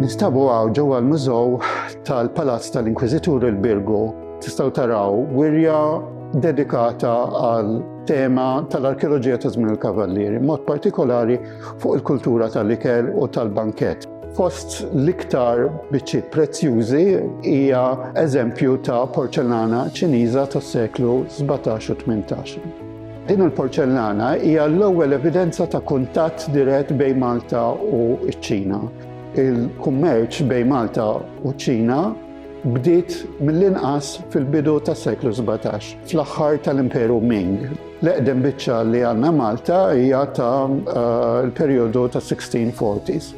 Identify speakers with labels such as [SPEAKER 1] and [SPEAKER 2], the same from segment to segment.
[SPEAKER 1] Nistabu għaw ġewwa l-mużow tal-Palazz tal-Inkwiżitur il-Birgu tistgħu taraw wirja dedikata għal tema tal-arkeoloġija ta' żmien il-Kavallieri, mod partikolari fuq il-kultura tal-ikel u tal-bankett. Fost l-iktar biċċi prezzjużi hija eżempju ta' porċellana ċiniża tas-seklu 17 u 18. Din il-porċellana hija l-ewwel evidenza ta' kuntatt dirett bejn Malta u ċ-Ċina. Il-kummerċ bejn Malta u ċ-Ċina bdiet mill-inqas fil-bidu tas-seklu 17, fl-aħħar tal-Imperu Ming. L-eqdem biċċa li għandna Malta hija ta' eh, l-perjodu tas-1640s.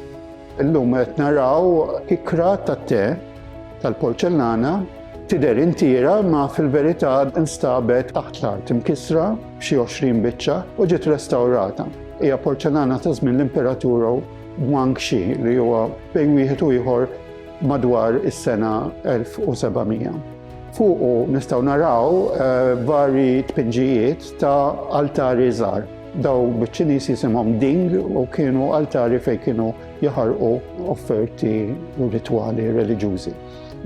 [SPEAKER 1] Illum qed naraw ikra tat-te tal-porċellana tidher intiera ma fil-verità nstabet taħt l-art imkissra b'xi 20 biċċa u ġiet restawrata. Hija porċellana ta' żmien l-Imperaturu Guang Xi li huwa bejn wieħed u ieħor madwar is-sena 1700. Fuqu nistgħu naraw eh, vari tpinġijiet ta' altari żgħar. Daw biċ-Ċiniż jisimhom ding u kienu altari fejn kienu jaħarqu offerti u ritwali reliġjużi.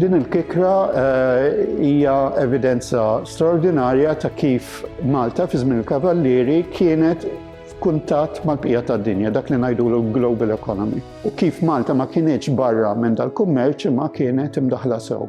[SPEAKER 1] Din il-kikra eh, hija evidenza straordinarja ta' kif Malta fi żmien il-Kavallieri kienet f'kuntatt mal-bqija tad-dinja, dak li ngħidu l-global economy. U kif Malta ma kienieċ barra minn dal-kummerċ ma kienet imdaħla sew.